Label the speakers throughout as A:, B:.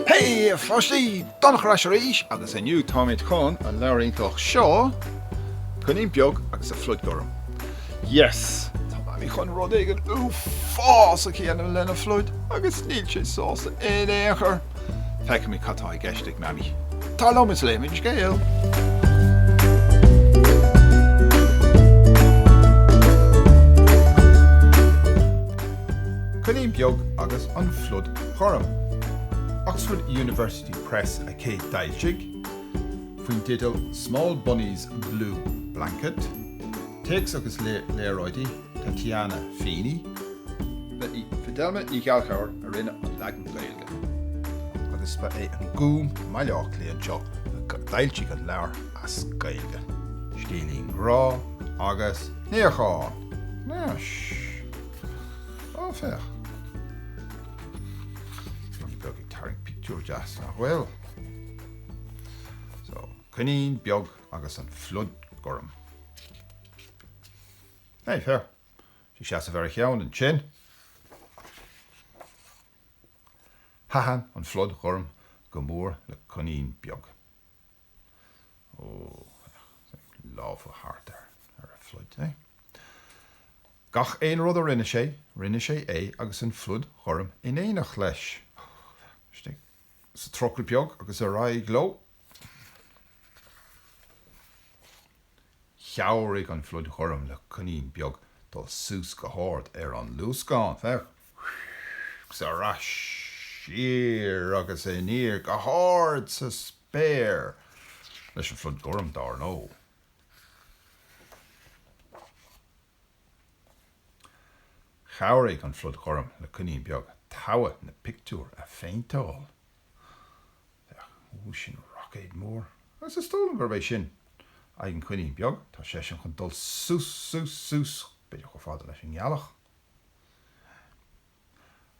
A: Hé, a pháistí! Donncha ar ais arís agus inniu táimid chun an leabhar iontach seo, Coinín Beag agus a Phluid Ghorm, Yes! Tá Mamaí chun rud éigin uafásach a dhéanamh lena phluid agus níl sé sásta in aon chor! Feicimid cad tá i gceist ag Mamaí. Tar liom is léimis an scéal! Coinín Beag agus an Phluid Ghorm. Oxford University Press a chéad d'fhoilsigh, faoin teideal Small Bunny's Blue Blanket, Téacs agus léaráidí, Tatyana Feeney. Ba í Fidelma Ní Ghallchobhair a rinne an leagan Gaeilge agus ba é an Gúm i mBaile Átha Cliath anseo a d'fhoilsigh an leabhar as Gaeilge. Scéilín grá agus níochán! Nó, shh! Ó, féach! Coinín beag ag tarraingt pictiúr deas, nach bhfuil? So, coinín beag agus an phluid ghorm. Hé, féach! Sé ag seasamh ar a cheann ansin, thaitin an phluid ghorm go mór le coinín beag. Ó, féach! Lámha thart air, ar a phluid, hé? Gach aon rud a rinne sé, rinne sé é agus an phluid ghorm in éineacht leis. Ó, féach! Istigh. sa trucail beag agus ar aghaidh leo. Chabhraigh an phluid ghorm le coinín beag dul suas go hard ar an luascán, féach, is ar ais siar agus aniar go hard sa spéir leis an phluid ghorm, dar ndó. Chabhraigh an Phluid Ghorm le Coinín Beag togha na pictiúr a phéinteáil. Féach, sin roicéad mór, agus is dóigh liom gurb é sin aghaidh an choinín beag. Tá seisean chun dul suas, suas, suas, b'fhéidir chomh fada leis an ngealach.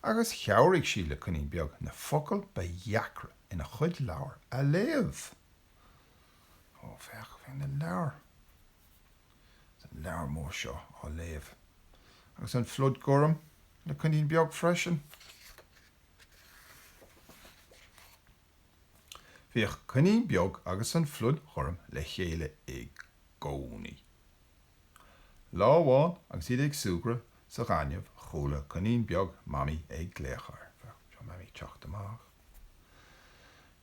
A: Agus chabhraigh sí le Coinín Beag na focail ba dheacra ina chuid leabhar a léamh. Ó, féach, féach na leabhair. Is an leabhar mór seo á léamh. Agus an phluid gorm le coinín beag freisin. Bhíodh coinín beag agus an phluid ghorm le chéile i gcónaí. Lá amháin agus iad ag súgradh sa ghaineamh chuala coinín beag Mamaí ag glaoch air. Seo Mamaí ag teacht amach.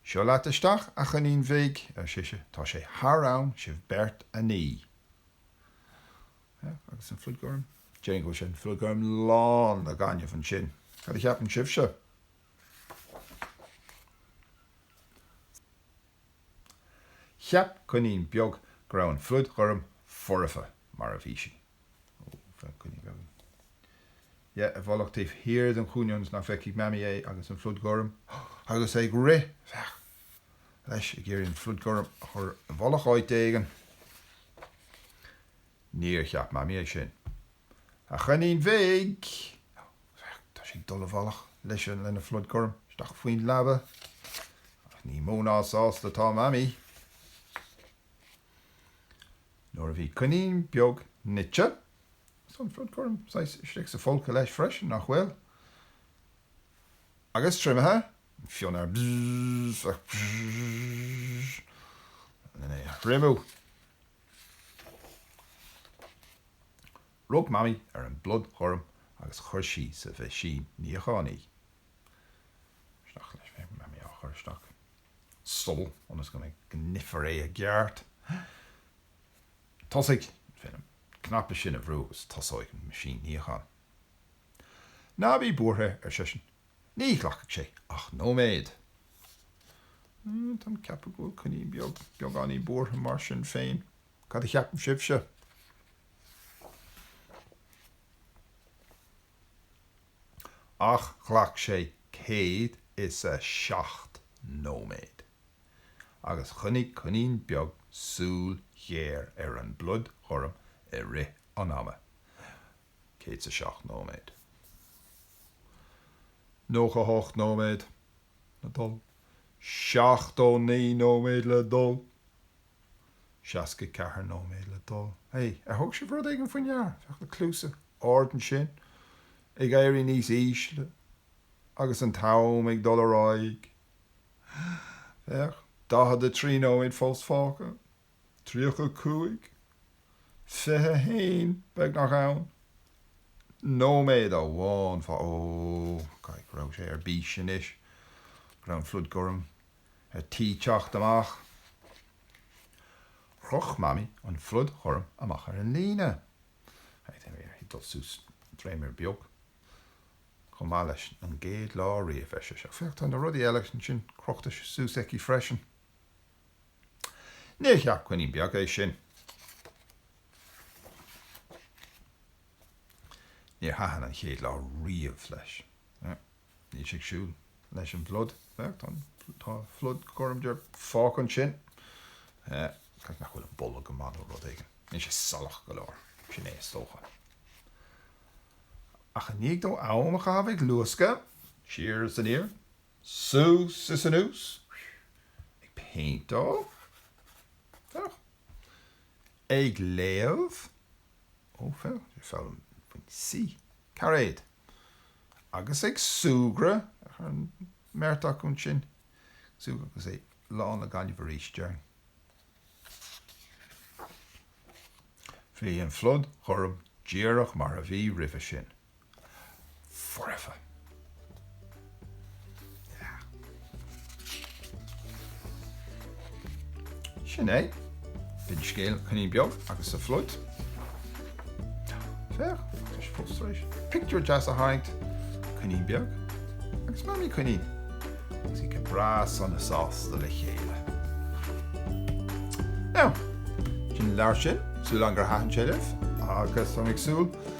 A: Seo leat isteach, a choinín bhig, ar sise, tá sé thar am sibh beirt a ní. Sea, agus an phluid gorm? Déarfainn go bhfuil sé, an phluid gorm, lán de ghaineamh ansin. Cad a cheapann sibhse? Cheap coinín beag go raibh an phluid ghorm foirfe mar a bhí sí. Féach coinín beag in. Yeah, i bhfolach taobh thiar den chúinne ionas nach bhfeicfeadh Mamaí é agus an phluid ghorm agus é ag rith, féach, leis, ag iarraidh an phluid ghorm a chur i bhfolach áit éigin. Níor cheap Mamaí é sin. A choinín bhig! Féach. Tá sé ag dul i bhfolach leis an, lena phluid ghorm isteach faoin leaba. Ach ní mó ná sásta atá Mamaí. Nuair a bhí coinín beag nite, is an phluid ghorm saghas istigh sa folcadh leis freisin, nach bhfuil? agus triomaithe, an fionnadh ar bzz ach bzz len é a thriomú. Rug Mamaí ar an bpluid ghorm agus chuir sí sa mheaisín níocháin í. Isteach leis, féach, Mamaí á chur isteach. sul ionas go mbeidh go nífear é i gceart, tosaigh féin an cnaipe sin a bhrú agus tosóidh an meaisín níocháin. Ná bí buartha, ar sise, ní ghlacfaidh sé ach nóiméad. Táim ag ceapadh go bhfuil coinín beag beagáinín buartha mar sin féin, cad a cheapann sibhse? ach ghlac sé 107 nóiméad, agus choinnigh coinín beag súil ghéar ar an bpluid ghorm i rith an ama, 107 nóiméad. 98 nóiméad le dul. 79 nóiméad le dul. 64 nóiméad le dul. Hé, ar thug sibh rud éigin faoi ndeara? Féach na cluasa arda ansin ag éirí níos ísle agus an t-am ag dul ar aghaidh. Féach 43 nóiméad fós fágtha. 35. 21. Beagnach ann. Nóiméad amháin fá. Ó, caithfidh go raibh sé ar bís anois. Go raibh an phluid ghorm. ar tí teacht amach. Chroch Mamaí an phluid ghorm amach ar an líne. Bhí uirthi dul suas dréimire beag chomh maith leis an gcéad lá riamh, ar sise. Ach féach, tá na rudaí eile ansin crochta suas aici freisin. Níor cheap coinín beag é sin. Níor thaitin an chéad lá riamh leis. Níl sé ag súil leis an bpluid. Féach, tá an, tá an phluid ghorm dearg fágtha ansin. B'fhéidir nach bhfuil an boladh go maith nó rud éigin. Níl sé salach go leor. Sin é is dócha. Ach i ndiaidh dó am a chaitheamh ag luascadh siar is aniar, suas is anuas, ag péinteáil, féach, ag léamh, ó féach, ag foghlaim faoin C, cairéad. agus ag súgradh an bheirt acu ansin, ag súgradh agus é lán le gaineamh arís, déarfainn. Bhí an phluid ghorm díreach mar a bhí roimhe sin. Foirfe. Sin é. B'in scéal coinín beag agus a phluid. Féach, tá sé fós tar éis pictiúr deas a tharraingt, coinín beag agus mamaí coinín agus iad go breá sona sásta le chéile. Now, sin an leabhar sin, súil agam gur thaitin sé libh agus táim ag súil